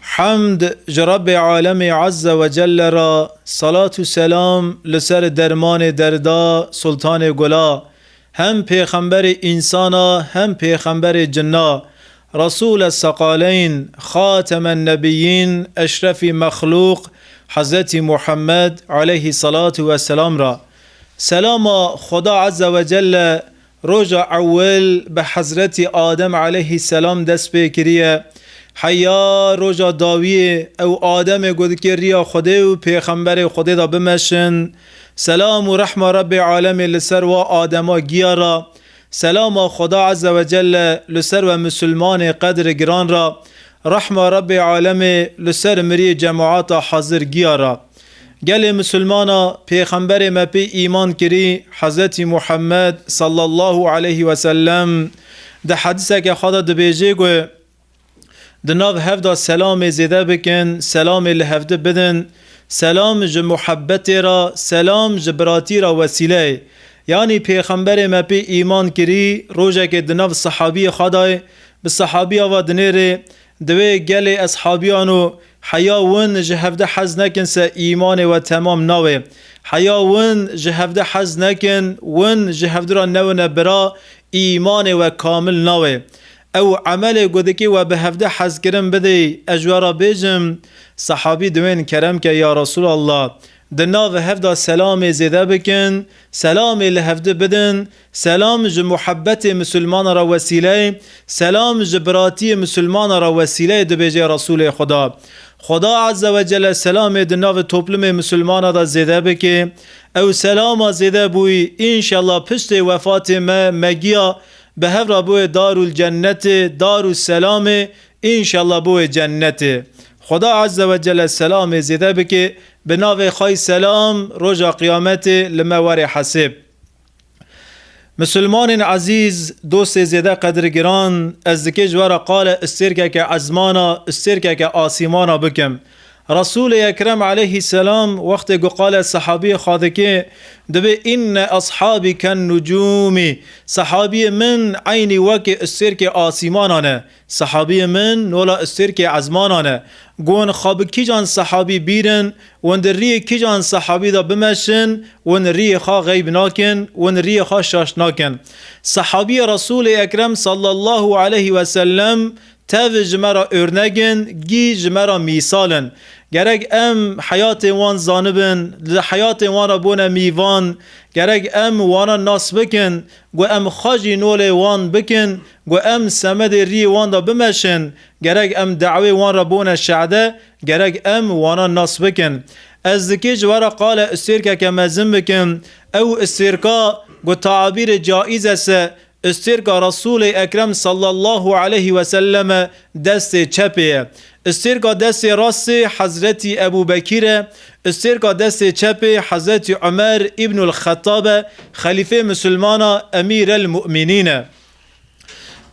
Hamd ji Rabbê Alemê Azze ve Celle re, selat û selam li ser dermanê derda Sultanê Gula, hem pêxemberê însan a hem pêxemberê cin a, Resûle Seqaleyn, Xatemen Nebîyîn, Eşrefî Mexlûq, Hezretî Muhammed, aleyhî selatû vesselam re. Selama Xweda Azze ve Celle Roja ewil bi Hezretî Adem aleyhî selam dest pê kiriye. Heya roja dawiyê ew Ademê ku dikê riya Xwedê û Pêxemberê Xwedê de bimeşin. Selam û rehma Rebê alemê li ser wa Adema giya ra. Selama Xweda eze we celle li ser we Musulmanê qedr giran ra. Rehma Rebê alemê li ser miriyê cemata hezir giya ra. Gelê misilmana pêxemberê me pê îman kirî Hezretî Muhammed sallallahu aleyhî wesellem di hedîseke xwe de dibêjê ku di nav hev de selamê zêde bikin, selamê li hevdi bidin, selam ji muhebbetê re, selam ji biratî re wesîleyê. Yanî pêxemberê me pê îman kirî rojekê di nav sehabîyê xwe de bi sehabîya ve dinêrê di wê gelê eshabîyan û Heya win ji hevdeh hez nekin se îmanê we temam nawe. Heya win ji hevdeh hez nekin, win ji hevdu re newine bira, îmanê we kamil nawe. Ew emelê ku dikî we bi hevdeh hez kirin bidê, ez ji we re bêjim, Sehabî di wên kerem ke ya Resûlallah! Di nav hevda selamê zêde bikin, selamê li hevdu bidin, Selam ji muhebbetê misilmana re wesîleyê selam ji biratiyê misilmana re wesîleyê dibêje Resûlê Xweda. Xweda Ezze ve Celle selamê di navê toplumê misilmana de zêde bike. Ew selama zêde bûyî înşellah piştê wefatê me me giya bi hev re biwê Darul Cennetê, Darul Selamê, înşellah biwê Cennetê. Xweda Ezze ve Celle selamê zêde bike bi navê xwe selam roja qiyametê li me were hesêb. Misilmanên ezîz, dostê zêde qedirgiran, ez dikê ji we re qale îstêrkeke ezmana, îstêrkeke asîmana bikim. Resûlê Ekrem aleyhî selam wextê ku qale sehabiyê xwe dikê, dibê Înne eshabî ken-nucûmî, sehabiyê min eynî wekî îstêrkê asîmanan e, Sehabiyê min nola Istêrkê ezmanan e. Gon xwe bi kîjan sehabî bîrin, win di riyê kîjan sehabî de bimeşin, win riyê xwe xeyb nakin, win riyê xwe şaş nakin. Sehabiyê Resûlê Ekrem sallallahu aleyh ve sellem tev ji me re örnek in, gî ji me re mîsal in. Gerek em heyatên wan zanibin, li heyatên wan re bûne mîvan, gerek em wanan nas bikin, gu em xwe jî nolê wan bikin Got em semedê riyê wan de bimeşin, gerek em dawê wan re bone şehde, gerek em wanan nas bikin. Ez dikê ji were qale Ustêrkeke mezin bikim. Ew Ustêrka ku taabîrê caiz es e, Ustêrka Resûlê Ekrem sallallahu aleyh ve sellem e, destê çepê ye. Ustêrka destê rastê Hezretî Ebû Bekîr e, ustêrka destê çepê Hezretî Umer Îbnul Xettab e, xelîfê misilmana, Emîrel Mumînîn e.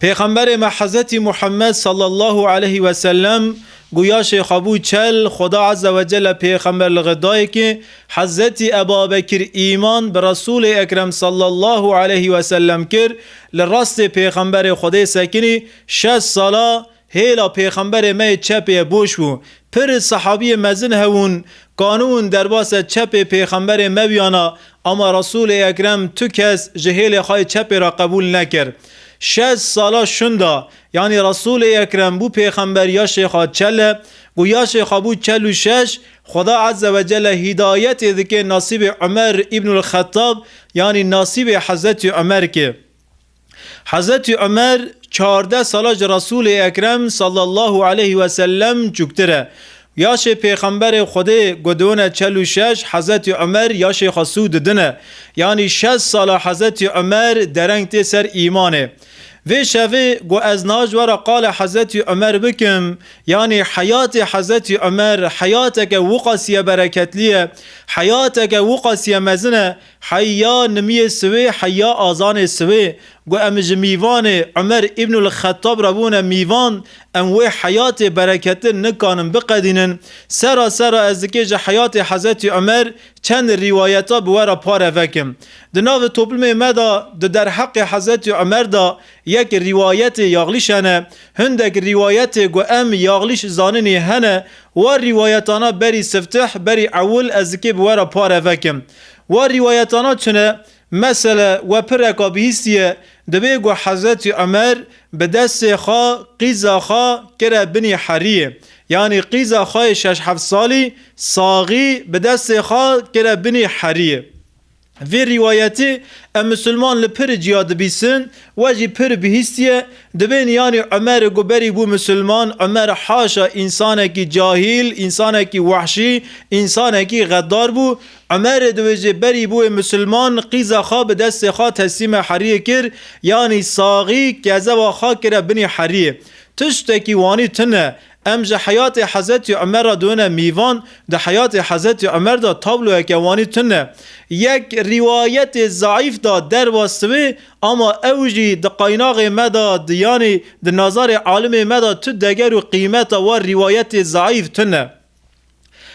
Pêxemberê me Hezretî Muhammed sallallahu aleyhî ve sellem guya Şêxa bû çel, Xweda Ezze ve Celle pêxember li xwe daye ki Hezretî Ebabekir îman bi Resûlê Ekrem sallallahu aleyhî ve sellem kir, li rastê pêxemberê Xwedê sekinî şeş sala Hêla pêxemberê me yê çepê ye boş bû. Pir sehabiyê mezin hebûn qaniûn derbase çepê pêxemberê me biyana ama Resûlê Ekrem tu kes ji hêlê xwe yê çepê re qebûl nekir. Şeş sala şunda yanî Resûlê Ekrem bû pêxember yaşê xwe çel e ku yaşê xwe bû çel û şeş Xweda Eze Wecele hîdayetê dike nasîbê Umer Îbnul Xetab yanî nasîbê Hezretî Umer ke Hezretî Umer çardeh sala ji Resûlê Ekrem sallallahu aleyh ve sellem çûktir e. Yaşê Pêxemberê Xwedê gudûne çel û şeş Hezretî Umer yaşê xwe sû didine. Yanî şez sala Hezretî Umer dereng tê ser îmanê. Vê şevê got ez naj were qala Hezretî Umer bikim, yanî heyatê Hezretî Umer heyateke wiqasîye bereketlî ye, heyateke wiqasîye mezin e, Hey ya nimiyê siwê hey ya azanê siwê ku em ji mîvanê Umer Îbnul Xetab re bûne mîvan em wê heyatê bereketin nikanin biqedînin. Sera sera ez dikê ji heyatê Hezretî Umer çend rîwayeta bi we re pare vekim. Di navê toplumê me de di derheqê Hezretî Umer de yek rîwayetê yaxlîş hene. Hindek rîwayetê ku em yaxlîş zaninî hene. War rîwayetana berî siftih berî ewil ez dikê bi we re pare vekim. Wa rîwayetana çin e. Mesele we pireka bihîstî ye. Divê ku Hezretî Umer bi destê xwe qîza xwe kire binî herîyê. Yanî qîza xwe yê şeş heft salî saxî bi destê xwe kire binî herîyê. Vê rîwayetê em misilman li pir ciya dibîsin, we jî pir bihîstî ye, Dibên yanî Umer ku berî bû misilman, Umer haşa însanekî cahîl, însanekî wehşî, însanekî xeddar bû. Umer di wê jê berî bûyê misilman, qîza xwe bi destê xwe teslîmê heriyê kir, yanî saxî kezewa xwe kire binî heriyê. Tiştekî wanî tune, Em ji heyatê Hezetî Umer re dune mîvan, di heyatê Hezetî Umer de tabloyeke wanî tune. Yek rîwayetê zeîf de derwest wê ama ew jî di qaynaxê me de di yanî di nazarê alimê me de tu deger û qîmeta wa rîwayetê zeîf tune.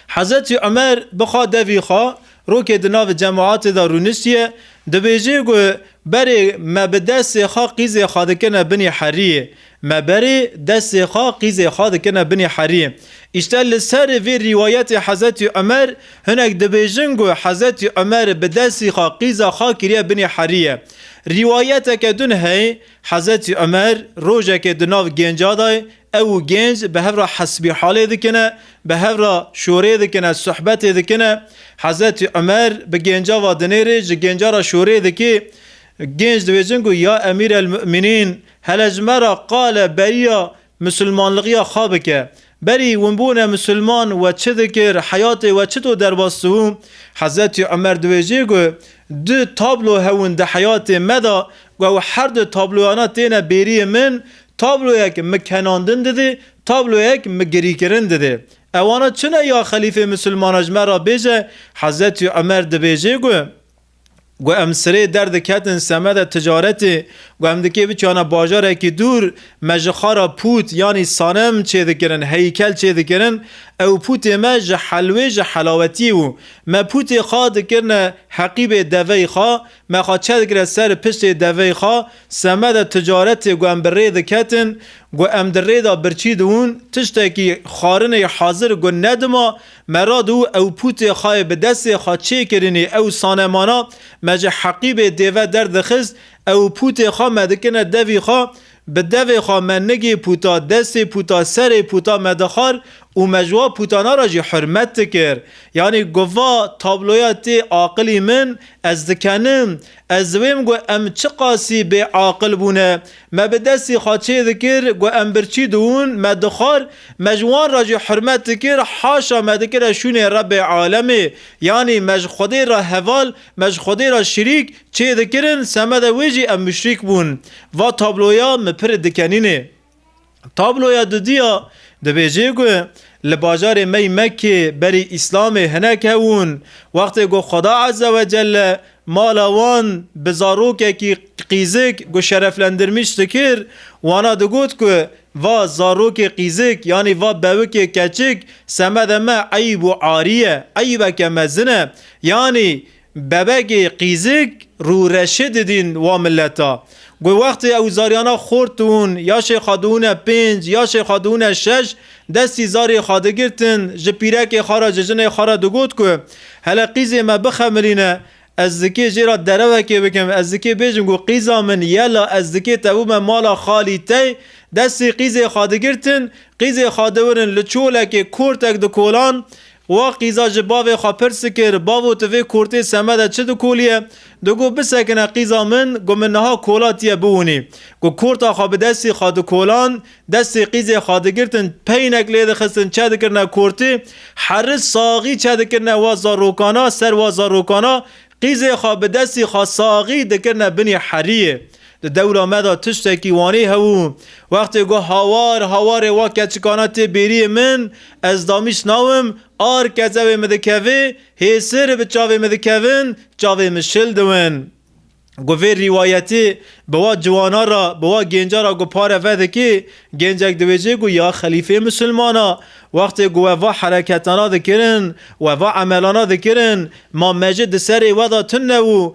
Hezretî Umer bixa devî xwe, rokê di navê cemaetê de rûniştiye, dibêjê ku berê me bi destê xwe qîzê xwe dikine binî herîyê, me berê destê xwe qîzê xwe dikine binî herîyê. Îşte li serê vê rîwayetê Hezretî Umer hinek dibêjin ku Hezretî Umer bi destî xwe qîza xwe kiriye binî herîye. Rîwayeteke din heye Hezretî Umer rojekê di nav gênca de Ew û gênc bi hev re hesbîhalê dikine, bi hev re şorê dikine, sohbetê dikine. Hezretî Umer bi gênca ve dinêrê, ji gênca re şorê dikê. Gênc dibêjin ku ya Emîr el Mu'minîn hele ji me re qale beriya misilmanligiya xwe bike. Berî winbûne misilman we çi dikir, heyatê we çito derbas dibû? Hezretî Umer dibêjê ku du tablo hebûn di heyatê me de ku ew her du tabloyana têne bêriyê min, Tabloyek mi kenandin didê, tabloyek mi girîkirin didê. Ewana çi ne ya xelîfê misilmana ji me ra bêje, Hezretî Umer dibêjê ku, Ku em sirê der diketin semeda ticaretê, ku em dikê biçûyana bajarekî dûr, me ji xwe ra pût yanî sanem çêdikirin, heykel çêdikirin, ew pûtê me ji helwê ji helawetî bû. Me pûtê xwe dikirine heqîbê deveyî xwe, Me xwe çedikire ser piştê devey xwe, semeda ticaretê ku em bi rê diketin, ku em di rê de birçî diûn, tiştekî xwarinê hazir ku ne dima me ra diû ew pûtê xwe yê bi destê xwe çêkirinî ew sanemana me ji heqîbê dêve derdixist, ew pûtê xwe me dikirine devî xwe Bi devê xwe me nigê puta, destê puta, serê puta me dixwar û me ji wan putana re jî hurmet dikir. Yanî gova tabloya tê aqilî min ez dikenim. Ez diwêm ku em çiqasî bêaqil bûne. Me bi destê xwe çê dikir ku em birçî diûn, me dixwar, me ji wan re jî hurmet dikir, haşa me dikire şûnê Rebê Alemê. Yanî me ji Xwedê re heval, me ji Xwedê re şirîk, Çê dikirin semedê wê jî ev muşrîk bûn. Va tabloya min pirê dikenînê. Tabloya dudiya dibêjê ku li bajarê me yî Mekkê berî Îslamê hinek hewûn wextê ku Xweda Ezzewecelle mala wan bi zarokekî qîzik ku şereflendirmîş dikir wana digot ku va zarokê qîzik yanî va bewikê keçik semedê me eyb û arî ye, eybeke mezin e yanî Bebegê qîzik rûreşê didîn wa mileta. Guh wextê ew zaryana xor tûn ya şê xwe dûne pênc ya şê xwe dûne şeş destî zarê xwe digirtin ji pîrekê xwe re ji jinê xwe re digot ku hele qîzê me bixemilîne ez dikê jê re derewekê bikim ez dikê bêjim ku qîza min ye la ez dikê tevûme mala xalî tey destî qîzê xwe digirtin qîzê xwe diwirin li çolekê kortek dikolan Wa qîza ji bavê xwe pirs kir, Bavo tu vê kurtê seme de çi dikoliye? Digot bisekine qîza min, got min niha kola tiye biwinî. Got kurta xwe bi destî xwe dikoland, destê qîzê xwe digirtin, peynek lê dixistin çedikirine kurtê, heri saxî çedikirine wa zarokana ser wa zarokana, qîzê xwe bi destî xwe saxî dikirine binî heriyê. Di dewra me de tiştekî wanî hebû. Wextê ku hawar hawarê wa keçikana tê bêriyê min, ez damîst nawim, ar kezewê min dikevê, hêsir bi çavê min dikevin, çavê min şil diwin. Ku vê rîwayetê bi wa ciwana re, bi wa gênca re ku pare vedikê, gêncek diwêjê ku ya xelîfê misilman e. Wextê ku we va hereketana dikirin, we va emelana dikirin, ma me jî di serê we de tune û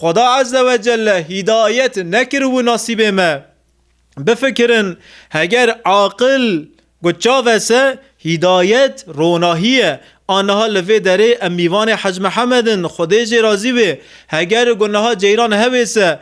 Xweda Ezze ve Celle hîdayet nekir wû nasîbê me. Bifikirin heger aqil got çav ese, hîdayet ronahî ye. A niha li vê derê em mîvanê Hec Mihemed in, Xwedê jê razî wê. Heger got niha ceyran hewê se,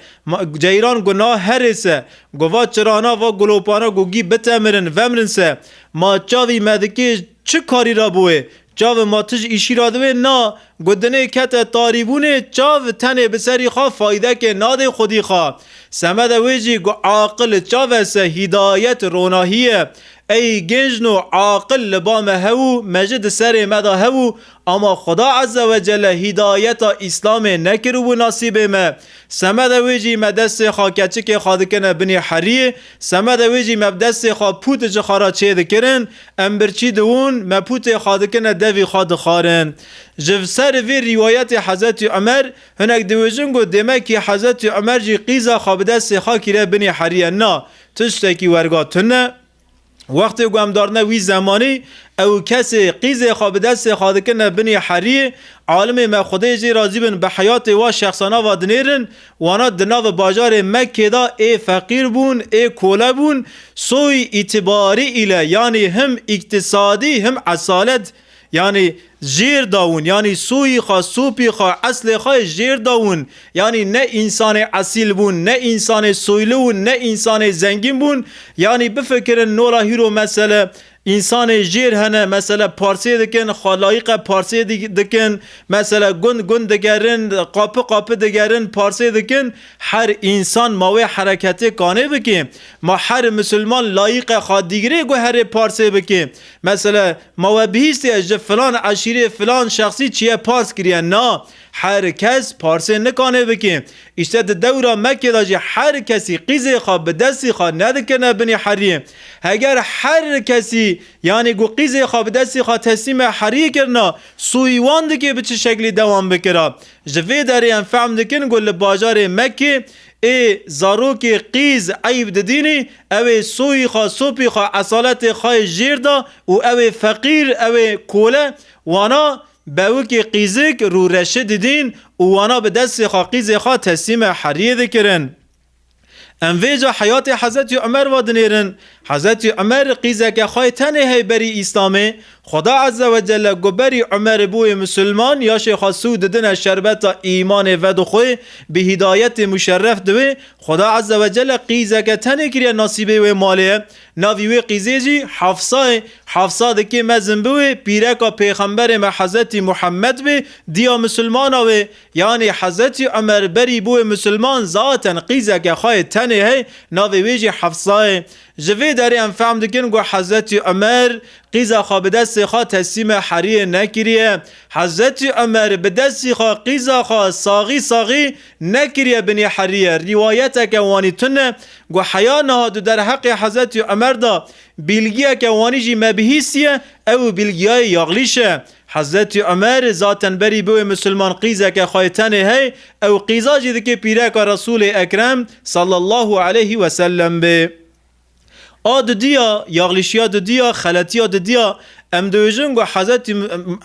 ceyran got niha herê se. Got va çirana, va gulopana gogî bitemirin, vemrin se. Ma çavî me dikê çi karî re bûê? Çavê ma tij îşî ra diwê na, gotinê kete tarîbûnê, çav tenê bi serî xwe faydekê nadê xwedî xwe. Semede wê jî ku aqil çave se hîdayet ronahî ye. Ey gêncno aqil li ba me hew û me ji di serê me de hew û ama Xweda Eze Wecele hîdayeta Îslamê nekiribû nasîbê me. Semede wê jî me destê xwe keçikê xwe dikine binê heriyê, semede wê jî me bi destê xwe pûtişê xwe re çêdikirin, Em birçî diwin, mepûtê xwe dikine devî xwe dixwarin. Ji ser vî rîwayetê Hezretî Umer, hinek diwêjin ku dêmekî Hezretî Umer jî qîza xwe bi destê xwe kiriye binê heriye. Na, tiştekî werga tund e. Wextê ku em darine wî zemanî, ew kesê qîzê xwe bi destê xwe dikine binê heriyê, alimê me xwedê jê razî bin bi heyatê wa şexsana va dinêrin, Wana di navê bajarê Mekkê de ê feqîr bûn, ê kole bûn, soyî îtîbarî île yanî him îktisadî him esalet yanî jêr dawin, yanî soyî xwe, sopî xwe, eslê xwe jêr dawin. Yanî ne însanê esîl bûn, ne însanê soyli û ne însanê zengîn bûn. Yanî bifikirin nola hîro mesele Însanê jêr hene mesele parsê dikin, xwe layiqe parsê dikin, mesele gund gund digerin, qapi qapi digerin, parsê dikin. Her însan ma wê hereketê kanê bikê. Ma her misilman layiqe xwe dîgrê guherê parsê bikê. Mesele ma we bihîstiye ji filan eşîrê, filan şexsî çiye pars kiriye. Na! Her kes parsê nikanê bikê. Îşte di dewra Mekê de jî her kesî qîzê xwe bi destî xwe nedikirine binî herîyê. Heger her kesî yanî ku qîzê xwe bi destî xwe teslîmê herîyê kirina, sûyî wan dikê bi çi şeklî dewam bikira. Ji vê derê em fehm dikin ku li bajarê Mekê ê zarokê qîz eyb didînî, ew ê sûyî xwe, sopî xwe, esaletê xwe yê jêr da û ew ê feqîr, ew ê kole, wana Bewikê qîzik rû reşê didîn û wana bi destê xwe qîzê xwe teslîmê heriyê dikirin. Em vê ca heyatê Hezretî Umer ve dinêrin. Hezretî Umer qîzeke xwe yê tenê hey berî Îslamê. Xweda Eze we Celle ku berî Umerê bûyê Musulman, yaşê xwe sû didine şerbeta îmanê vedixwe, bi hîdayetê muşerref dibe. Xweda Eze we Celle qîzeke tenê kiriye nasîbê wê malê ye. Navî wê qîzê jî Hafsa ye. Hafsa dikê mezin biwê pîreka pêxemberê me Hezretî Muhemmed bê, diya misilmana wê. Yanî Hezretî Umer berî bûye misilman zaten qîzeke xwe yê tenê heye navê wê jî Hafsa ye. Ji vê derê em fehm dikin ku Hezretî Umer qîza xwe bi destê xwe teslîmê heriyê nekiriye. Hezretî Umer bi destî xwe qîza xwe saxî saxî Nekiriye binê heriye, rîwayeteke wanî tune ku heya niha di derheqê Hezretî Umer de bîlgiyeke wanî jî mebihîsiye, ew û bîlgiyayê Yaglîş e. Hezretî Umer zaten berî biwê misilman qîzeke xwe yê tenê hey, ew qîza jî dikê pîreka Resûlê Ekrem sallallahu aleyhî wesellem bê. A didiya, yaxlîşiya didiya, xeletiya didiya, em dibêjin ku Hezretî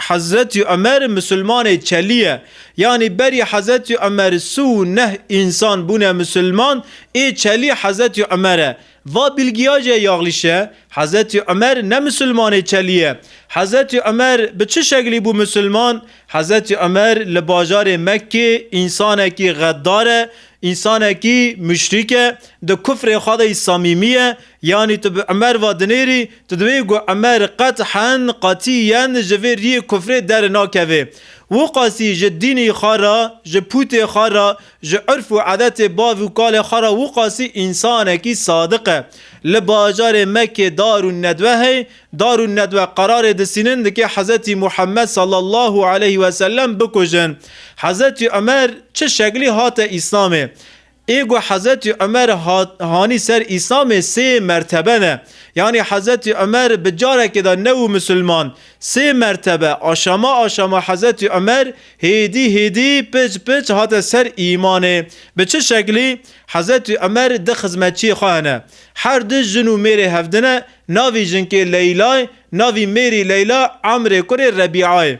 Hezretî Umer Musulmanê çelî ye. Yanî berî Hezretî Umer si û neh însan bûne Musulman ê çelî Hezretî Umer e. Va bîlgiya jê yaxlîş e. Hezretî Umer ne Musulmanê çelî ye. Hezretî Umer bi çi şeklî bû Musulman? Hezretî Umer li bajarê Mekkê însanekî xeddar e, Însanekî muşrîk e, di kufrê xwe de yî samîmî ye. Yanî tu bi Umer ve dinêrî, tu diwê ku Umer qet'hen, qetîyen ji vê riyê kufrê derê nakevê. Wiqasî ji dînî xwe re, ji pûtê xwe re, ji urf û edetê bav û kalê xwe re wiqasî însanekî sadiq e. Li bajarê Mekkê dar û nedwe hey, Darûn Nedwe qerarê di Sînin dike Hezretî Muhemmed sallallahu aleyh we sellem bikujin. Hezretî Umer çi şeklî hate Îslamê? Ê ku Hezretî Umer hat hanî ser Îslamê sê mertebe ne. Yanî Hezretî Umer bi carekê de nebû misilman. Sê mertebe, aşama aşama Hezretî Umer hêdî hêdî, piç piç hate ser îmanê. Bi çi şeklî? Hezretî Umer di xizmetçiyê xwe hene. Her du jin û mêrê hevdine Navê jinkê Leyla ye, navê mêrê Leyla Amrê kurê Rebîa ye.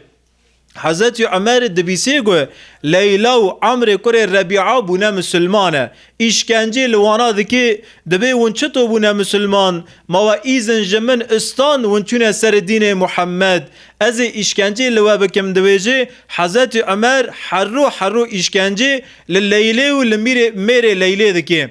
Hezretî Umer dibîsê ku Leyla û Amrê kurê Rebîa bûne misilman e. Îşkencê li wana dikê, dibê hûn çito bûne misilman? Ma we îzin ji min istan hûn çûne serê dînê Muhemmed. Ez ê îşkencê li we bikim dibêje, Hezretî Umer herû herû îşkencê li Leylê û li mîrê mêrê Leylê dikê.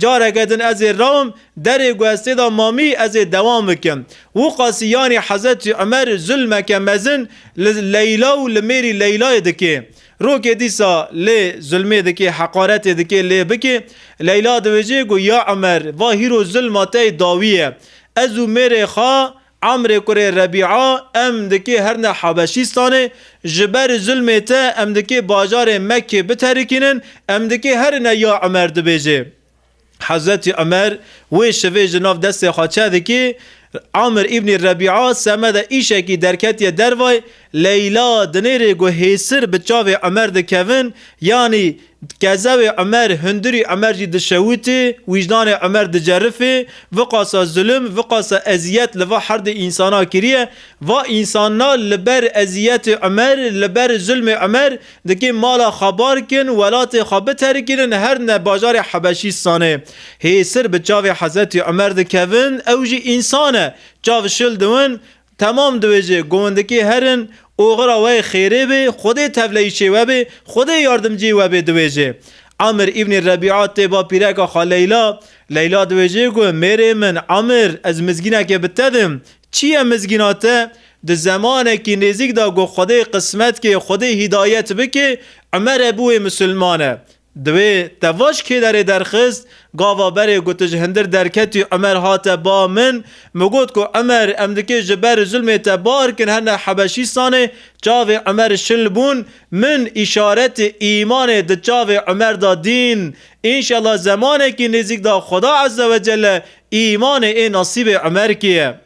Careke din ez ê rawim derê ku ez tê de mamî ez ê dewam bikim. Wûqasî yanî Hezretî Umer zulmeke mezin li Leyla û li mêrî Leylayê dikê. Rokê dîsa lê zulmê dikê, heqaretê dikê lê bikê. Leyla diwêjê ku ya Umer va hîro zulma te yê dawî ye. Ez û mêrê xwe Amrê kurê Rebîa, Em dikê herine Habeşîstanê, ji ber zulmê te em dikê bajarê Mekkê biterikînin, em dikê herine ya Umer dibêjê. Hezretî Umer wê şivê ji nav destê xwe çedikê. Amr îbnî Rebîa semede îşekî derketiye dervayê, Leyla dinêrê ku hêsir bi çavê Umer dikevin, yanî Kezewê Umer hundirî Umer jî dişewitî, wîjdanê Umer dicerifî, viqasa zulm, viqasa eziyet li va herdê însana kiriye, va însanna li ber eziyetê Umer, li ber zulmê Umer dikê mala xwe barkin, welatê xwe biterikînin her ne bajarê Hebeşîstanê. Hê sir bi çavê Hezretî Umer dikevin, ew jî însan e, çav şil diwin, Temam dibêje govindikê herin, oxira we xêrê bê, Xwedê tevleyîşê we bê, Xwedê yardimcîyê we bê dibêje. Amir îbnî Rebîa tê ba pîreka xwe Leyla. Leyla dibêje ku mêrê min Amir ez mizgîneke bi te dim. Çi ye mizgîna te? Di zemanekî nêzîk de ku Xwedê qismetkê, Xwedê hîdayet bikê, Umer e bûye misilmane. Divê te va ji kê derê derxist? Gava berê ku tu ji hundir derketî Umer hate ba min. Min got ku Umer em dikê ji ber zulmê te biarkin her ne Hebeşîstanê. Çavê Umer şil bûn. Min îşaretê îmanê di çavê Umer de dîn. Înşela zemanekî nêzîk de Xuda Ezzewecelle îmanê ê nasîbê Umerkî ye.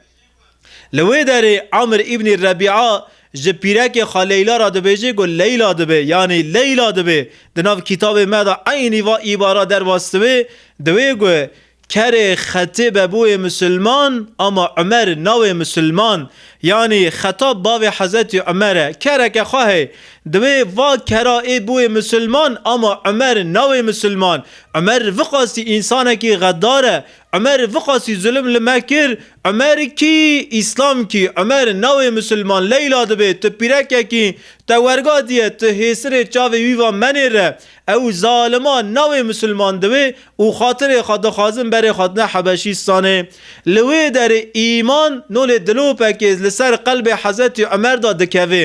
Li wê derê Amir îbnî Rebîa ji pîrekê xwe Leyla re dibêje ku Leyla dibe yanî Leyla dibe. Di nav kitabê me de eynî va îbara dervastibû, diwê ku kerê Xetêbe bûye misilman ama Umer nabê misilman. Yanî Xetab bavê Hezretî Umer e. Kereke xwe heye. Diwê va kera ê bûye misilman ama Umer nabê misilman. Umer vixwastî însanekî xedar e Umerî viqasî zulim li me kir, Umerî kî? Îslam kî? Umerî navê misilman Leyla dibê, tu pîrekek î, te werga diye, tu hêsirê çavê wî va menêre. Ew zaliman navê misilman diwê û xatirê xwe dixwazin berê xwedine Hebeşîstanê. Li wê derê îman nolê dilopekê li ser qelbê Hezretî Umer de dikeve.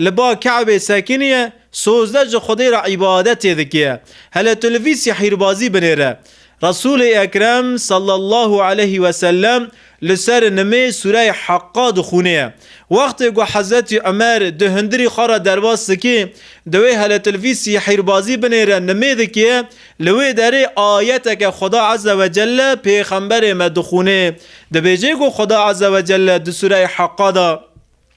Li ba Kabê sekiniye, sozdeh ji Xwedê re îbadetê dikiye. Hele tu li vî sîhîrbazî binêre. Resûlê Ekrem sallallahu aleyhî we sellem li ser nimê sûreyê Haqqa dixwûnêye. Wextê ku Hezretî Umer di hundirî xwe re derbas dikê, dewê hele tu li vî sîhîrbazî binêre nimê dikiye, li wê derê ayeteke Xweda eze we celle pêxemberê me dixwûnê, dibêjê ku Xweda eze we celle di sûreyê Haqqa de,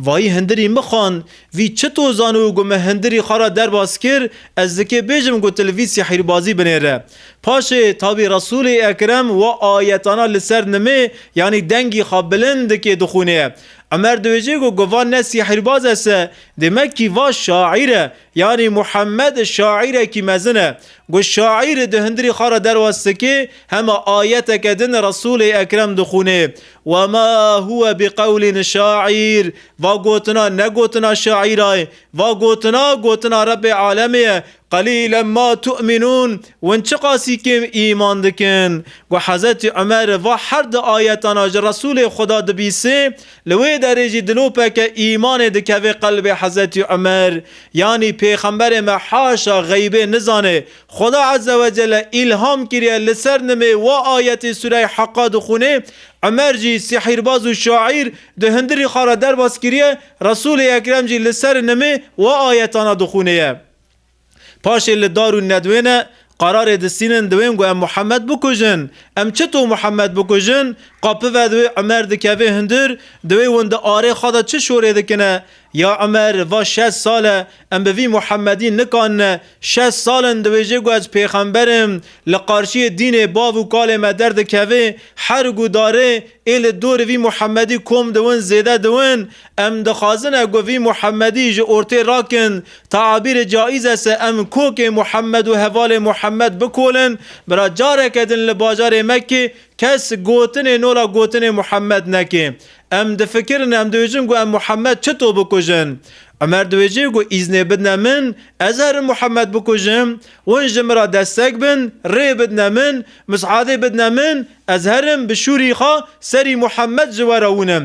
Vayî hindirî mixan, vî çi to zan û ku me hindirî xwe re derbas kir, ez dikê bêjim ku tu li vî sîhîrbazî binêre. Paşê tabî Resûlê Ekrem wa ayetana li ser nimê yanî dengî xwe bilind dikê dixwînê. Umer dibêje ku guvan ne sîhîrbaz ese, dê me kî va şaîr e, Yanî Muhammed şaîrekî mezin e. Ku şaîr di hundirî xwe re derwas dike, hema ayeteke din Resûlê Ekrem dixwîne, Wema huwe biqewlîn şaîr, va gotina ne gotina şaîra ye, va gotina, gotina Rebbê Alemê ye, Qelîlen ma tu'minûn, hûn çiqasî kêm îman dikin. Ku Hezretî Umer va her di ayetan a ji Resûlê Xweda dibîsê, Li wê derê jî dilopeke îmanê dikeve qelbê Hezretî Umer, yanî Pêxemberê me haşa xeybê nizane, Xweda Ezze ve Celle îlham kiriye li ser nimê wa ayetê sûreyê Haqa dixwînê, Umer jî sihîrbaz û şaîr di hundirî xwe re derbas kiriye, Resûlê Ekrem jî li ser nimê wa ayetana dixwînê ye. Paşê li dar û nedwên e, qerarê distînin diwên ku em Muhemed bikujin. Em çito Muhemed bikujin? Qapive di wê Umer dikevê hundir, di wê win di arê xwe de çi şorê dikine? Ya Umer, va şeş sal e, em bi vî Muhemedî nikanine. Şeş sal in diwêjê ku ez pêxember im, li qarşiyê dînê bav û kalê me derdikevê, herg û darê, ê li dorî vî Muhemedî kom diwin zêde diwin. Em dixwazine ku vî Muhemedî ji ortê rakin, Teabîrê caiz e se em kokê Muhammed û hevalê Muhammed bikolin? Bira careke din li bajarê Mekkê kes gotinê nola gotinê Muhammed neke. Em difikirin em dibêjin ku em Muhammed çito bikujin? Umer dibêje ku îznê bidne min ez herin Muhammed bikujim? Win ji min ra destek bin, rê bidne min, mis'adê bidne min ez herim bi şûrî xwe serî Muhammed ji we re wûnim.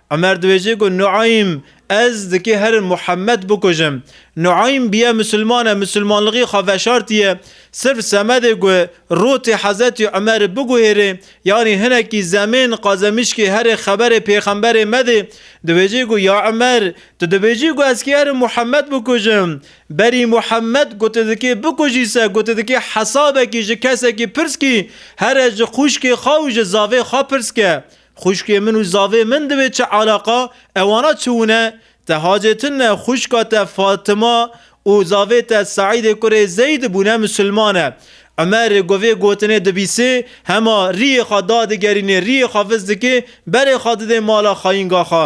Umer dibêje ku Nuaym, Ez dikê herin Muhammed bikujim. Nuaym biye Musulman e, Musulmanlixî xwe veşartiye. Sirf semedê ku rotê Hezretî Umerî biguhêrê yanî hinekî zemên qazemişkê herê xeberê pêxemberê medê. Dibêje ku Ya Umer, tu dibêjî ku ez kê herin Muhammed bikujim. Berî Muhammed ku tu dikê bikujî se ku tu dikê hesabekî ji kesekî pirs kî, here ji xwişkê xwe û ji zavê xwe pirs ke. Xwişkê min û zavê min divê çi eleqa ewana çi wune? Te hacê tin ne xwişka te Fatima û zavê te Seîdê kurê Zeyd bûne misilman e. Umer ku vê gotinê dibîsê hema riyê xwe dadigerînê riyê xwe viz dikê berê xwe didê mala xayînga xwe.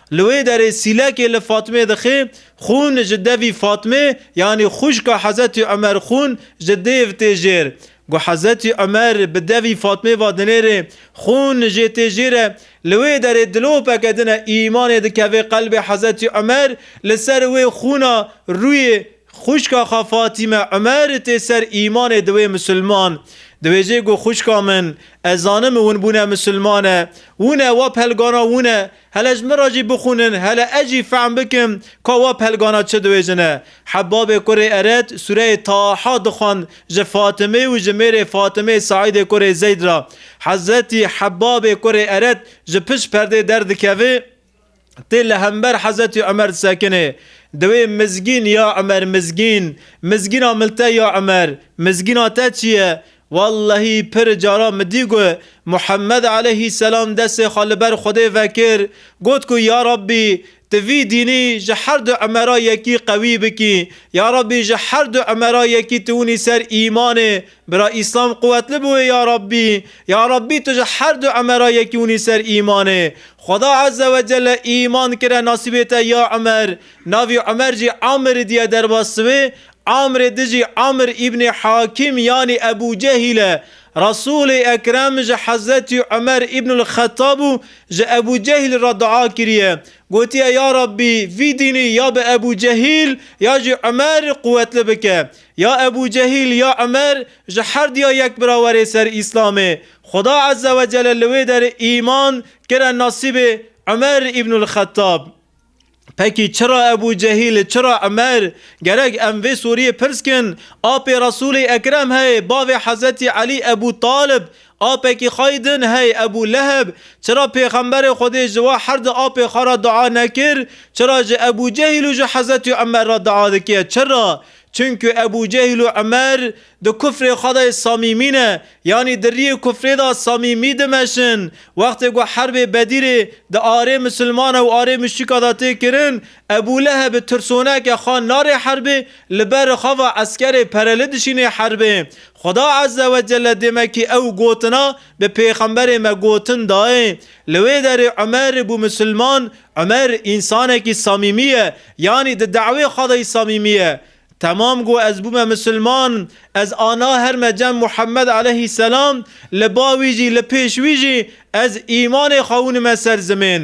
Li wê derê Sîlekê li Fatmê dixê, Xûn ji devî Fatmê yanî xwişka Hezetî Umer Xûn ji dêv tê jêr. Ku Hezetî Umer bi devî Fatmê va dinêrê Xûn jê tê jêr e, li wê derê dilopeke din e îmanê dikeve qelbê Hezetî Umer, li ser wê xûna rûyê xwişka xwe Fatîme Umer tê ser îmanê diwê misilman. Diwêjê ku xwişka min, ez zanim win bûne misilmane, wine wa pelgana wine Hele ji min re jî bixwînin, hele ez jî fehm bikim ka wa pelgana çi diwêjine. Hebabê kurê Ered sûreyê Taha dixwend ji Fatimê û ji mêrê Fatimê Saîdê kurê Zeyd re. Hezretî Hebabê kurê Ered ji pişt perdê derdikeve, tê li hember Hezretî Umer disekinê. Diwê Mizgîn ya Umer Mizgîn, mizgîna min te ya Umer, mizgîna te çi ye? Wellehî pir caran min dî ku Muhemmed eleyhî selam destê xwe li ber Xwedê vekir, got ku ya Rabbî tu vî dînî ji her du Emera yekî qewî bikî, ya Rabbî ji her du Emera yekî tu winî ser îmanê, bira Îslam quwetli biwê ya Rabbî, ya Rabbî tu ji her du Emera yekî winî ser îmanê. Xweda Eze we Celle îman kire nasîbê te ya Umer, navî Umer jî Amir diye derbas siwê, Amrê dijî Amr îbnê Hakîm yanî Ebû Cehîl e. Resûlê Ekrem ji Hezretî Umer îbnul Xettab û ji Ebû Cehîl re dua kiriye. Gotiye ya Rabbî vî dînî ya bi Ebû Cehîl ya jî Umer quwetli bike. Ya Ebû Cehîl ya Umer ji herduya yek bira were ser Îslamê. Xuda Ezzewecelle li wê derê îman kire nasîbê Umer îbnul Xettab. Pekî çira Ebû Cehîl, çira Umer? Gerek em vê soriyê pirs kin. Apê Resûlê Ekrem hey, bavê Hezretî Elî Ebû Talib, apekî xwe yî din hey Ebû Leheb, çira Pêxemberê Xwedê ji wan her di apê xwe re dua nekir? Çira ji Ebû Cehîl û ji Hezretî Umer re dua dike? Çira? Çimkû Ebû Cehîl û Umer? Di kufrê xwe de samîmî ne, yanî di riyê kufrê de samîmî dimeşin. Wextê ku herbê Bedîrê di arê misilmana û arê muşrîka de tê kirin, Ebû Lehebi tirsoneke xwe narê herbê, li ber xava eskerê pereli dişînê herbê. Xuda Ezze we Celle demekî ew gotina bi pêxemberê me gotin dayê. Li wê derê Umer bû misilman, Umer însanekî samîmî ye, yanî di dawê xwe de samîmî ye. Temam got ez bûme misilman, ez ana her me cem Muhammed eleyhî selam, li ba wî jî li pêş wî jî ez îmanê xwe winime ser zimên.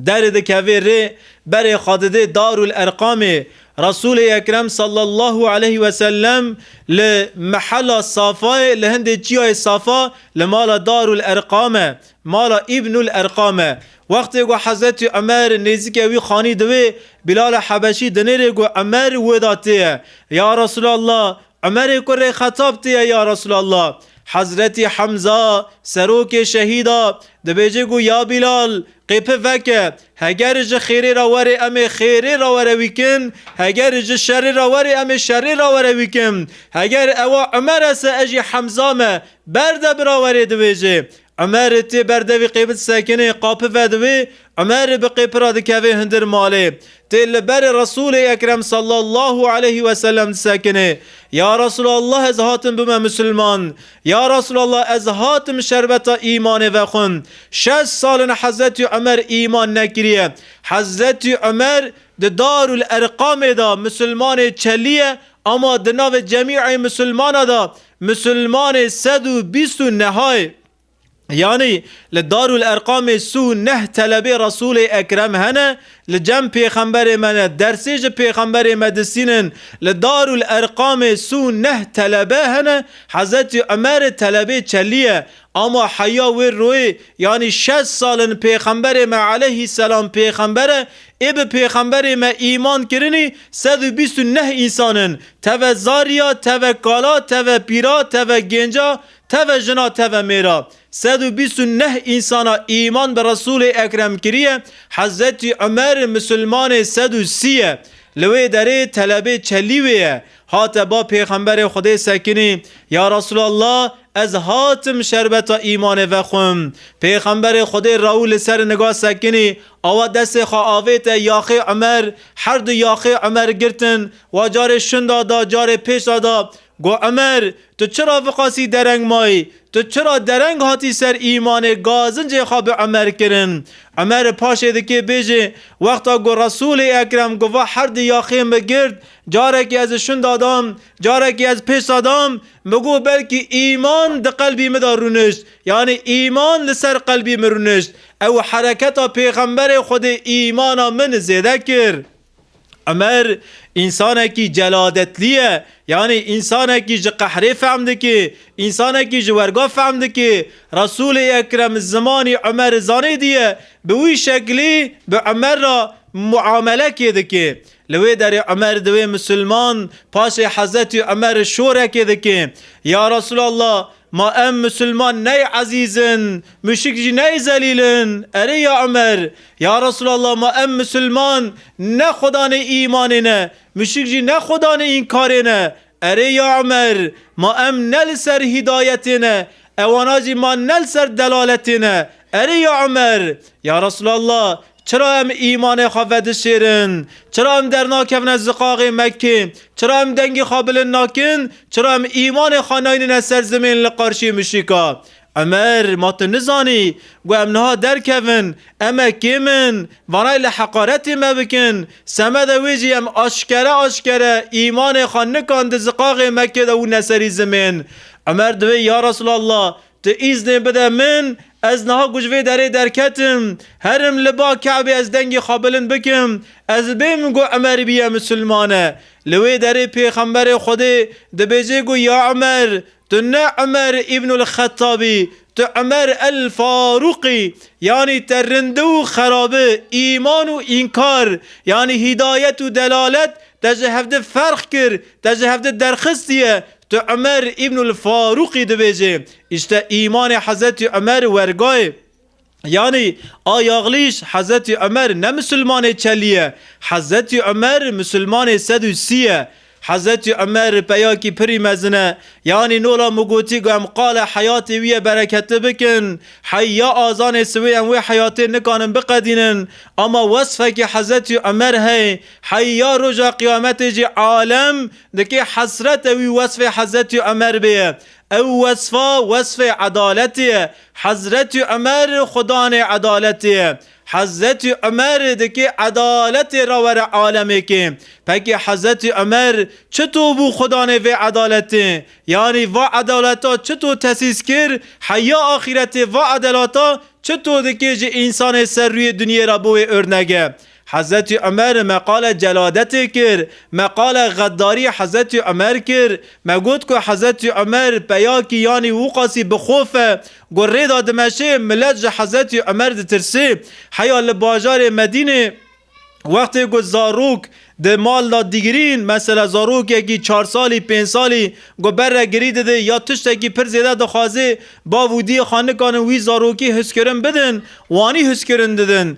Derê dikevê rê berê xwe didê Darul Erqamê. Resûlê Ekrem sallallahu eleyh ve sellem li mehela Safayê li hindê çiyayê Safa li mala Darul Erqame, mala Îbnul Erqame, Wextê ku Hezretî Umer nêzîkê wî xanî di wê, Bîlali Hebeşî di nêrê ku Umer wê de tê ye, Ya Resûlallah! Umerê kurê Xetab tê ye ya Resûlallah! Hezretî Hemza, serokê şehîda, dibêje ku ya Bîlal, qêpi veke, heger ji xêrê re werê em ê xêrê re were wî kin, heger ji şerê re werê em ê şerê re were wî kin. Heger ewa Umer e se ez jî Hemza me, berde bira werê dibêje. Umerê tê ber devî qêbit sekinê, qapi vediwê, Umerê bi qêpi re dikevê hundir malê. Tê li berê Resûlê Ekrem sallallahu aleyhi ve sellem disekinê. Ya Resûlallah ez hatim bûme Musulman. Ya Resûlallah ez hatim şerbeta îmanê vexwin. Şeş sal in Hezretî Umer îman nekiriye. Hezretî Umer di Darul Erqamê de Musulmanê çelî ye ama di navê cemî ê Musulmana de Musulmanê sed û bîst û nehayê, yanî li Darul Erqamê si û neh telebê Resûlê Ekrem hene, li cem pêxemberê me ne, dersê ji pêxemberê me disînin, li Darul Erqamê si û neh telebe hene, Hezretî Umerê telebê çelî ye, Ama heya wê royê, yanî şeş sal in pêxemberê me eleyhî selam pêxember e, ê bi pêxemberê me îman kirinî sed û bîst û neh însan in, teve zarî ya, teve kala, teve pîra, teve gênca, teve jina, teve mêra. Sed û bîst û neh însana îman bi Resûlê Ekrem kiriye, Hezretî Umer misilmanê sed û sî ye. Li wê derê telebê çelî wê ye. Hate ba Pêxemberê Xwedê sekinî, Ya Resûlallah, ez hatim şerbeta îmanê vexwim. Pêxemberê Xwedê rew li ser niga sekinî, awa destê xwe avête yaxê Umer, her du yaxê Umer girtin, wa carê şinda da, carê pêşda da, got, Umer, tu çira viqasî dereng mayî? Tu çira dereng hatî ser îmanê gazincê xwe bi Umer kirin? Umer paşê dikê bêjê, wexta ku Resûlê Ekrem ku va her du yaxê min girt, Carekî ez şinda dam, carekî ez pêsa dam, min got belkî îman di qelbî min de rûnişt, yanî îman li ser qelbî min rûnişt. Ew hereketa Pêxemberê Xwedê îmana min zêde kir. Umer însanekî celadetlî ye, yanî însanekî ji qehrê fehm dike, însanekî ji werga fehm dike. Resûlê Ekrem zimanî Umer zanêdî ye, bi wî şeklî bi Umer re muamele kê dike. Li wê derê Umer di wê Musulman paşê Hezretî Umer re şorekê dike, Ya Resûlallah! Ma em Musulman ney ezîz in, muşrik jî ney zelîl in. Erê ya Umer! Ya Resûlallah! Ma em Musulman ne xwedanê îmanê ne, muşrik jî ne xwedanê înkarê ne. Erê ya Emer, ma em ne li ser hîdayetê ne, ewana jî ma ne li ser delaletê ne. Erê ya Emer, ya Resûlallah, çira em îmanê xwe vedişêrin? Çira em dernakevine ziqaxê Mekkê? Çira em dengê xwe bilind nakin? Çira em îmanê xwe nayînine ser zimên li qarşî muşrîka? Emer, ma tu nizanî ku em niha derkevin, em e kê min, vanayê li heqaretê me bikin, semeda wê jî em aşkere aşkere îmanê xwe nikan di ziqaxê Mekkê de û ne serî zimên. Emer divê, ya Resûlallah, tu îznê bide min, ez niha ku ji vê derê derketim, herim li ba Kabê ez dengê xwe bilind bikim, ez bêm ku Emer bîye misilman e. Li wê derê pêxemberê Xwedê dibêje ku, ya Emer, Tu ne Umer Îbnul Xettab î, tu Umer El Farûk î, yanî te rindi û xerabi, îman û înkar, yanî hîdayet û delalet, te ji hevdi ferq kir, te ji hevdi derxistiye, tu Umer Îbnul Farûk î dibêjê. Îşte îmanê Hezretî Umer wergayê. Yanî a yaxlîş Hezretî Umer ne misilmanê çelî ye. Hezretî Umer misilmanê sed û sî ye. Hezretî Umer peyakî pirî mezin e. Yanî nola min gotî ku em qala heyatê wî ye bereketli bikin. Hey ya azanê siwê em wê heyatê nikanin biqedînin. Ama wesfekî Hezretî Umer heye. Hey ya roja qiyametê jî alem dike hesrete wî wesfê Hezretî Umer bêye. Ew wesfa wesfê edaletê ye. Hezretî Umer xudanê edaletê ye. Hezretî Umer dikê edaletê re were alemêkê. Pekê Hezretî Umer çito bû xudanê vê edaletê? Yanî va edaleta çito tesîs kir? Heya axîretê va edelata çito dikê ji însanê ser rûyê dinyê re bo wê örnek e? Hezretî Umer me qala celadetê kir, me qala xeddarî Hezretî Umer kir, me got ku Hezretî Umer peyakî yanî Wûqasî bi xwe fe ku rê da dimeşê, milet ji Hezretî Umer ditirsê. Heya li bajarê Medînê wextê ku zarok di mal da digirîn, mesela zarokekî çar salî, pênc salî ku ber re girî dide ya tiştekî pir zêde dixwaze, bav û diyê xanikanin wî zarokî hizkirin bidin, wanî hizkirin didin.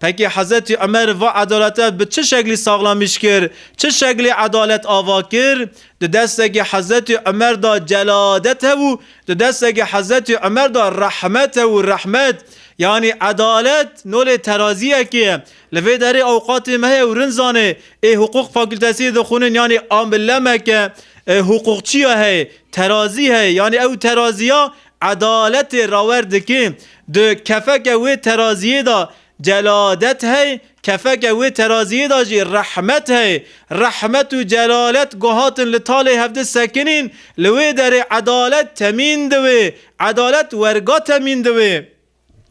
Peki Hezretî Umer va edalete bi çi şeklî saxlamîş kir, çi şeklî edalet ava kir? Di destekî Hezretî Umer de celadet hev û di destekî Hezretî Umer de rehmet hev û rehmet, yanî edalet nolê terazîyekê ye. Li vê derê awqatê me heye û rinzanê ê huqûq fakûltesiyê dixwînin yanî amillemek e, huqûqçîya heye, terazî heye, yanî ew terazîya Edaletê rawer dikê, di kefeke wê teraziyê de celadet hey, kefeke wê teraziyê de jî rehmet hey. Rehmet û celalet ku hatin li talê hevdi sekinîn, li wê derê edalet temîn diwê, edalet werga temîn diwê.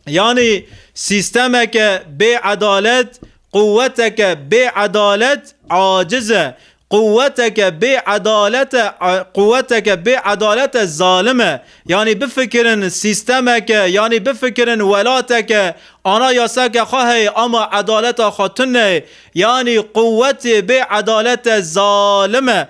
Yanî sîstemeke bêedalet quweteke bêedalet aciz e, quweteke bêedalet e quweteke bêedalet e zalim e. Yanî bifikirin sîstemeke yanî bifikirin welateke ana yasake xwe heye ama edaleta xwe tune ye. Yanî quwetê bêedalet e zalim e.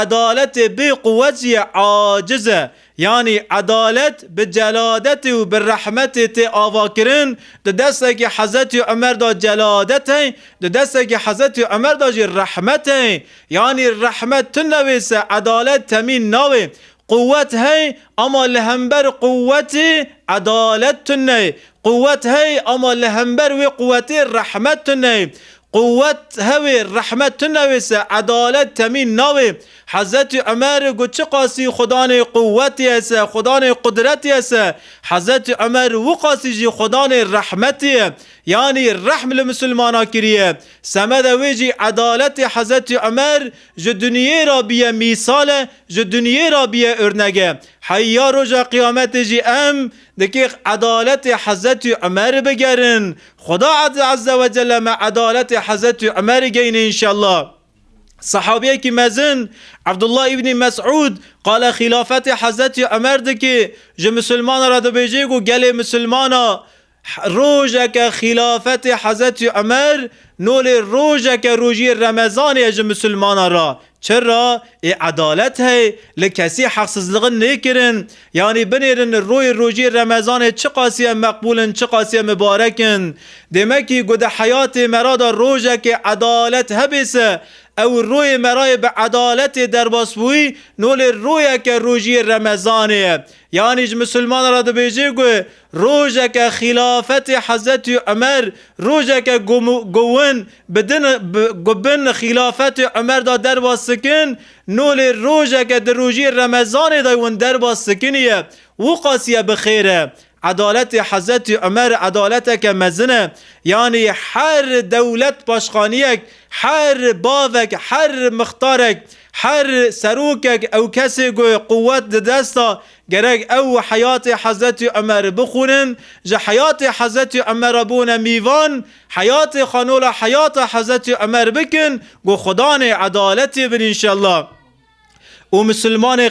Edaletê bê quwet jî aciz e. Yanî edalet bi celadetê û bi rehmetê tê avakirin, di destekî Hezretî Umer de celadet heye, di destekî Hezretî Umer de jî rehmet heye. Yanî rehmet tune wê se edalet temîn nawe. Quwwet hey ama li hember quwwetê edalet tune ye. Quwwet hey ama li hember wê quwwetê rehmet tune ye. Quwwet hewê rehmet tune wê se edalet temîn nawe. Hezretî Umer got çiqasî Xwedanê quwwetê ye se, Xwedanê qudretê ye se, Hezretî Umer wiqasî jî Xwedanê rehmetê ye. Yanî rehm li misilmanan kiriye. Semeda wê jî edaletê Hezretî Umer Ji duniyê ra biye mîsal e, ji duniyê ra biye örnek e. Heyî ya roja qîyametê jî em di kêx edaletê Hezretî Umerî bigerin. Xweda Ezze we Celle me edaletê Hezretî Umerî geyne înşellah. Sehabiyekî mezin Ebdullah Îbnî Mesûd qala xîlafetê Hezretî Umer dike, ji misilmanan re dibêje ku gelê misilmana Rojeke xîlafetê Hezretî Umer nolê rojeke rojiyê Remezanê ye ji misilmanan re. Çira ê edalet hey, li kesî heqsizliqin nêkirin. Yanî binêrin royê rojiyê Remezanê çiqasî em meqbûl in çiqasî em mibarek in. Demekî ku di heyatê me re de rojekê edalet hebê se ew royê me re yê bi edaletê derbasbûyî nolê royeke rojiyê Remezanê ye. Yanî ji misilmanan re dibêjê ku Rojeke xîlafetê Hezretî Umer, rojeke ku gowin bi din bi bin xîlafetê Umer de derba sikin, no lê rojeke di rojiyê Remezanê de win derba sikinîye, wuqasîye bi xêr e. Edaletê Hezretî Umer edaleteke mezin e. Yanî her dewlet paşxanîyek, her bavek, her mixtarek, her serokek ew kesê ku quwet di desta Gerek ew heyatê Hezretî Umerî bixwînin, ji heyatê Hezretî Umer re bûne mîvan, heyatê xwe nola heyata Hezretî Umer bikin ku Xudanê edaletê bin înşellah. Û misilmanê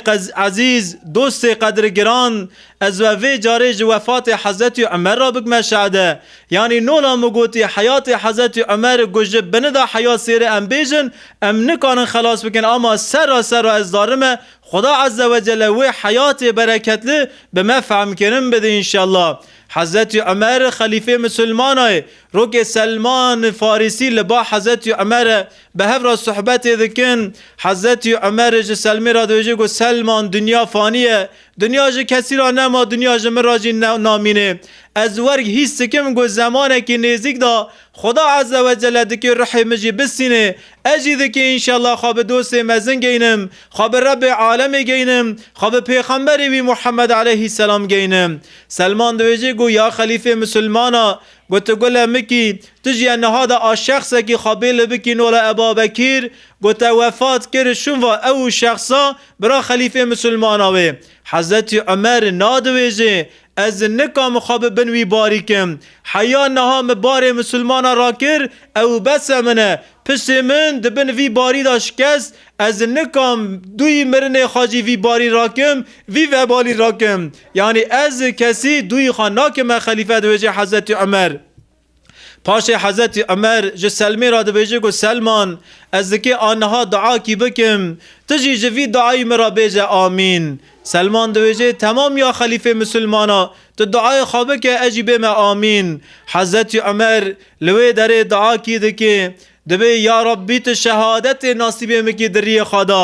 ezîz, dostê qedrgiran, ez we vê carê ji wefatê Hezretî Umer re bikme şade. Yanî nola min gotî heyatê Hezretî Umer ku ji binida heyat sêrê em bêjin, em nikarin xelas bikin ama serra serra ez darime Xuda Azze ve Celle wê heyatê bereketli bi me fehmkirin bide înşellah. Hezretî Umer xelîfê misilmanayê rokê Selman Farîsî li ba Hezretî Umer e bi hev re suhbetê dikin. Hezretî Umer ji Selmê re dibêje ku Selman dinya fanî ye. Dinya ji kesî re nema dinya ji min re jî namînê. Ez werg hîs dikim ku zemanekî nêzîk de Xuda Azze ve Celle dikê ruhê min jî bisînê, ez jî dikê înşellah xwe bi dostê mezin geynim, xwe bi Rebbê alemê geynim, xwe bi pêxemberê wî Muhemmed aleyhî selam geynim. Selman dibêje ku ya xelîfê misilman a, gote gule mikî, tu jî ya niha de a şexsekî xwe bê li bikî nola e Babekîr, gote wefat kir, şûnva ew û şexsa bira xelîfê misilman a wê. Hezretî Umer nadibêje, Ez nikamu xwe bi bin wî barîkim. Heya niha min barê misilmanan rakir, ew bes e min e. Piştê min di bin vî barî de şikest, ez nikam duyî mirinê xwe jî vî barî rakim, vî vebalî rakim. Yanî ez kesî duyî xwe nakime xelîfe di wêjê Hezretî Umer. Paşê Hezretî Umer ji Selmê re dibêje ku Selman ez dikê a niha dua kî bikim, tu jî ji vî duayî min re bêje Amîn. Selman dibêje Temam ya xelîfê misilmanan tu duayê xwe bike ez jî bême Amîn. Hezretî Umer li wê derê dua kî dike dibê Ya Rabbî tu şehadetê nasîbê min kî di riyê xwe de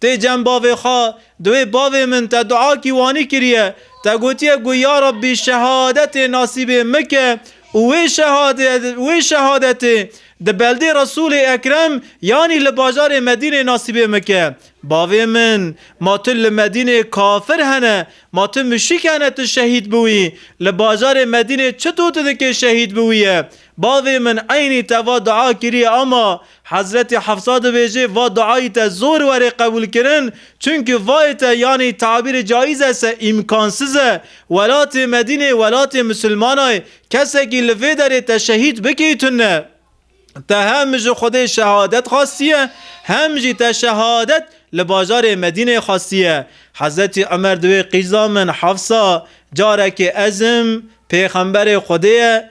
Tê cem bavê xwe di wê bavê min te dua kî wanî kiriye. Te gotiye ku ya Rabbî şehadetê nasîbê min ke û wê wê şehadetê di beldê Resûlê Ekrem yanî li bajarê Medînê nasîbê min ke. Bavê min ma tu li Medînê kafir hene, ma tu muşrik hene tu şehîd biwî. Li bajarê Medînê çi dû tu dikê şehîd biwîye. Bavê min eynî te va dua kiriye ama Hezretî Hefsa dibêje va duayî te zor were qebûlkirin, çunki vayê te yanî tabîrê caîz ese îmkansiz e, welatê Medîne welatê misilmana ye, kesekî li vê derê te şehîd bikê tune. Te hem ji Xwedê şehadet xwestiye, hem jî te şehadet li bajarê Medîne xwestiye. Hezretî Umer di wê qîza min, Hefsa, carekê ez im, pêxemberê Xwedê ye,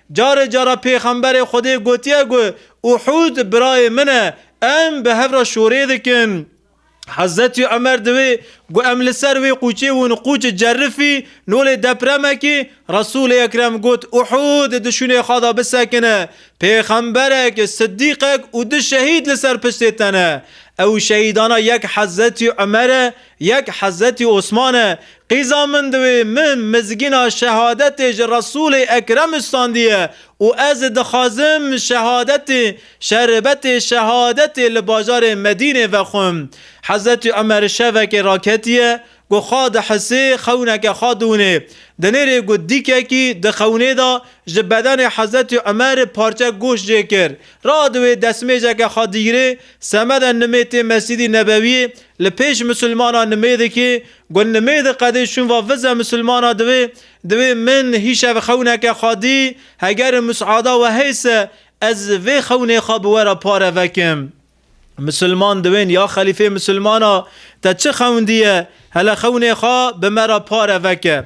Carê cara Pêxemberê Xwedê gotiye ku Uhûd birayê min e, em bi hev re şorê dikin. Hezretî Omer di wê ku em li ser wê qûçê wûn qûç Cerifî, nolê depremekî, Resûlê Ekrem got Uhûd di şûnê xwe de bisekine, pêxemberek, siddîqek û du şehîd li ser piştê te ne. Ew şehîdana yek Hezretî Omer e, Yek Hezretî Osman e, qîza min di wê min mizgîna şehadetê ji Resûlê Ekrem standiye û ez dixwazim şehadetê, şerbetê şehadetê li bajarê Medînê vexwim. Hezretî Omer şevekê raketiye ku xwe dihisê xewneke xwe dûnê. Di nêrê ku dîkekî di xewnê de ji bedenê Hezretî Omer parçe goşt jê kir, radiwê destmêjeke xwe digirê Semeda nimê tê Mesîdî Nebewîyê, li pêş misilmana nimê dikê, got, Nimê di qedê şûn va vize misilmana divê, divê min hîşev xewneke xwe dî, heger musada we hey se, ez vê xewnê xwe bi we re pare vekim. Misilman diwên, ya xelîfê misilmana, te çi xewn dî ye, hele xewnê xwe bi me re pare veke.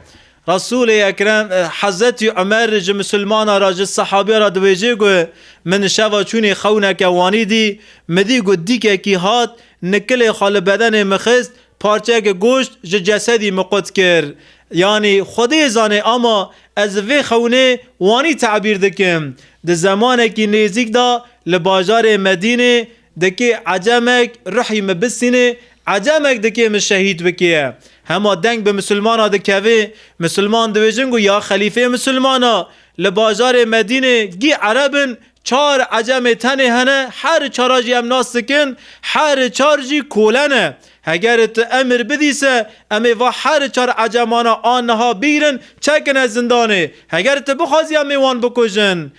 Resûlê Ekrem, Hezretî Umer ji misilmanan re ji sehabîyan re diwêjê ku, Min şeva çûnê xewneke wanî dî, min dî ku dîkekî hat, nikilê xwe li bedenê min xist, parçeyeke goşt ji cesedî min qut kir. Yanî Xwedê zanê ama ez vê xewnê wanî tebîr dikim. Di zemanekî nêzîk de li bajarê Medînê, Dikê Ecemek rihî mi bisînê, Ecemek dikê mi şehîd bikê ye. Hema deng bi misilmana dikevê, misilman diwêjin ku ya xelîfê misilman a. Li bajarê Medînê gî Ereb in, çar Ecemê tenê hene, her çara jî em nas dikin, her çar jî kole ne. Heger tu emir bidî se em ê va her çar Ecemana a niha bigrin çekine zindanê, heger tu bixwazî em ê wan bikujin.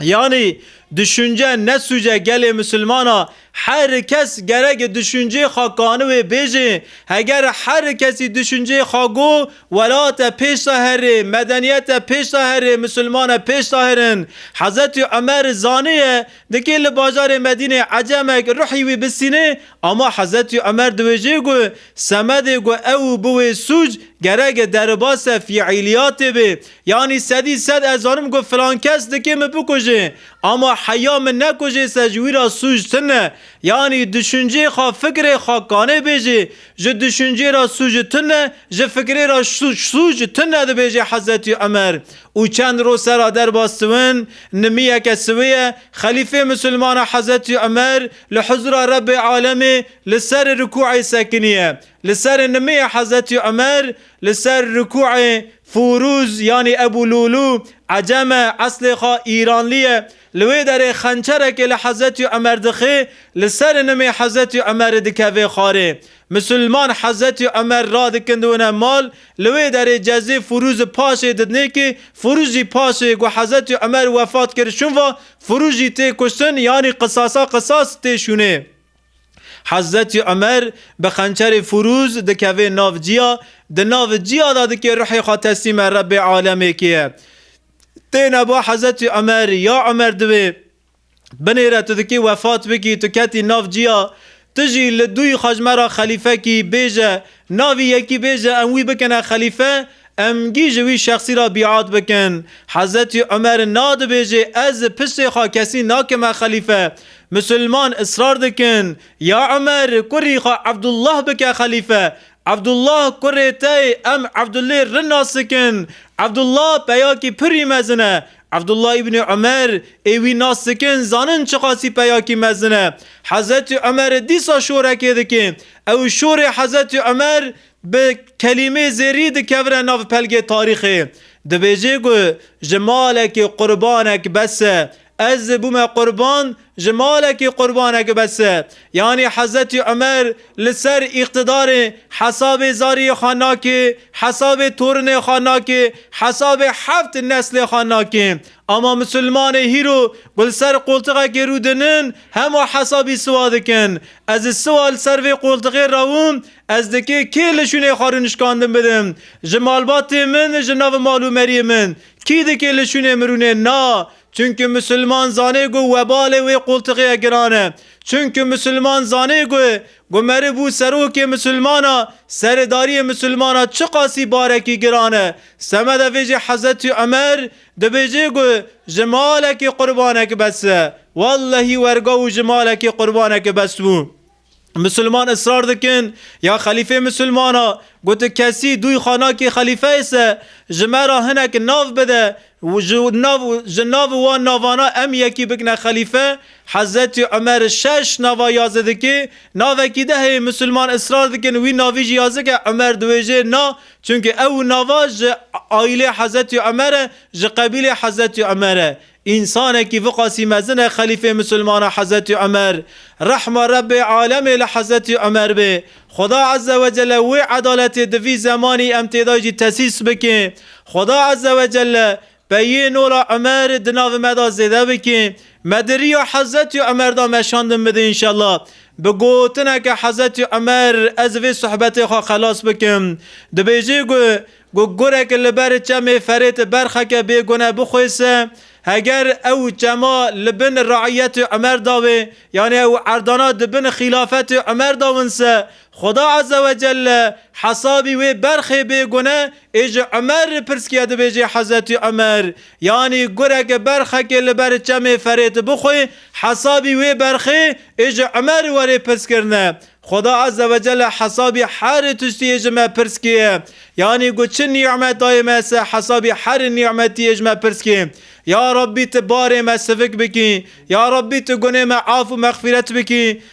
Yanî duşunce nesûce gelê misilmana her kes gerek duşuncê xwe kani wê bêjê heger her kesî duşuncê xwe go welate pêşta herê medeniyete pêşta herê misilmane pêşta herin Hezetî Umer zaniye dikê li bajarê Medînê Ecemek ruhî wî bisînê ama Hezetî Umer diwêjê go semedê go ew û bi wê sûc gerek deribase fîîliyatê bê Yanî sedî sed ez zanim ku filan kes dikê min bikuje ama heya min nekuje se ji wî ra sûc tin e. Yanî duşuncê xwe fikirê xwe kanê bêjê. Ji duşuncê ra sûc tin e, ji fikirê ra sûc tin e dibêje Hezretî Umer. Û çend roj sera derbas siwin, nimiyeke siwê ye, xelîfê misilman e Hezretî Umer li huzûra Rebbê Alemê li serê rikûê sekinî ye. Li serê nimiyê Hezretî Umer, Li ser rikûê Fûrûz yanî Ebû Lûlû ecem e, eslê xwe îranlî ye. Li wê derê xençerekê li Hezretî Umer dixê, li serê nimê Hezretî Umerê dikeve xwarê. Misilman Hezretî Umer radikin diwine mal, li wê derê cezê Fûrûz paşê didinê kî Fûrûz jî paşê ku Hezretî Umer wefat kir şûn va, Fûrûz jî tê kuştin yanî qisasa qisas tê şûnê. Hezretî Umer bi xençerê furûz dikevê nav ciya, di nav ciya de dikê ruhê xwe teslîme Rebbê alemê kiye. Têne bo Hezretî Umer, ya Umer divê binêre tu dikê wefat bikî, tu ketî nav ciya, tu jî li dûyî xwe ji me ra xelîfe kî, bêje Navî yekî bêje em wî bikine xelîfe, em gî ji wî şexsî ra bîat bikin. Hezretî Umer nadibêjê ez li piştê xwe kesî nakime xelîfe. Musulman israr dikin, ya Umer kurî xwe Ebdullah bike xelîfe. Ebdullah kurê te yê em Ebdullê rin nas dikin. Ebdullah peyakî pirî mezin e. Ebdullah Îbnî Umer ê wî nas dikin zanin çiqasî peyakî mezin e. Hezretî Umer dîsa şorekê dikê. Ew şorê Hezretî Umer bi kelîmê zêrî dikevire nav pelgê tarîxê. Dibêje ku ji malekî qurbanek bes e. Ez bûme qurban ji malekî qurbanek bes e. Yanî Hezretî Umer li ser îqtidarê hesabê zariyê xwe nake, hesabê torinê xwe nake, hesabê heft neslê xwe nake. Ama misilmanê hîro ku li ser qoltiqekê rû dinin, Hema hesabî siwa dikin. Ez ji siwa li ser vê qoltixê rawim, ez dikê kê li şûnê xwe rûnişkandin bidim? Ji malbatê min, ji nav mal û meriyê min kî dikê li şûnê min rûnê? Na! Çunku misilman zanê ku webalê wê qoltixê ye giran e. Çunku misilman zanê ku ku meriv û serokê misilman a, seredariyê misilman a çiqasî barekî giran e. Semeda vê jî Hezretî Umer, Dibêjî ku ji malekî qurbanek bes e. Wellehî werga û ji malekî qurbanek bes bû. Misilman israr dikin ya xelîfê misilman a, gotin kesî dûy xanakî xelîfeyê se ji me re hinek nav bide û ji nav ji nav wan navana em yekî bikine xelîfe. Hezretî Umer şeş nava yazidikî navekî de heye. Misilman israr dikin wî navî jî yazik e. Umer diwêjê na Çimkî ew nava ji aîlê Hezretî Umer e, ji qebîlê Hezretî Umer e. Însanekî viqasî mezin e xelîfê misilmanan Hezretî Umer. Rehma Rebbê alemê li Hezretî Umer bê. Xuda Ezze ve Celle wê edaletê di vî zemanî em têda jî tesîs bike. Xuda Ezze ve Celle Peyê Nola Umer di navê me de zêde bike. Me di riya Hezretî Umer de meşandin bide înşella. Bi gotineke Hezretî Umer ez vê sohbetê xwe xelas bikim. Dibêjê ku ku gurek li ber çemê Ferêt berxeke bêgune bixwêse, heger ew çema li bin reîyetê Umer de be, yanî ew erdana di bin xîlafetê Umer de winse, Xuda Azze ve Celle hesabî wê berxê bê gune ê ji Umer re pirsîye dibêjê Hezretî Umer yanî gureke berxekê li ber çemê ferê tu bixwe hesabî wê berxê ê ji Umer were pirskirine Xuda Azze ve Celle hesabî herê tiştiyê ji me pirskîye yanî got çi nîmet daye me se hesabî herê nîmetiyê ji me pirskî Ya Rabbî tu barê me sivik bikî Ya Rabbî tu gunê me af û mexfîret bikî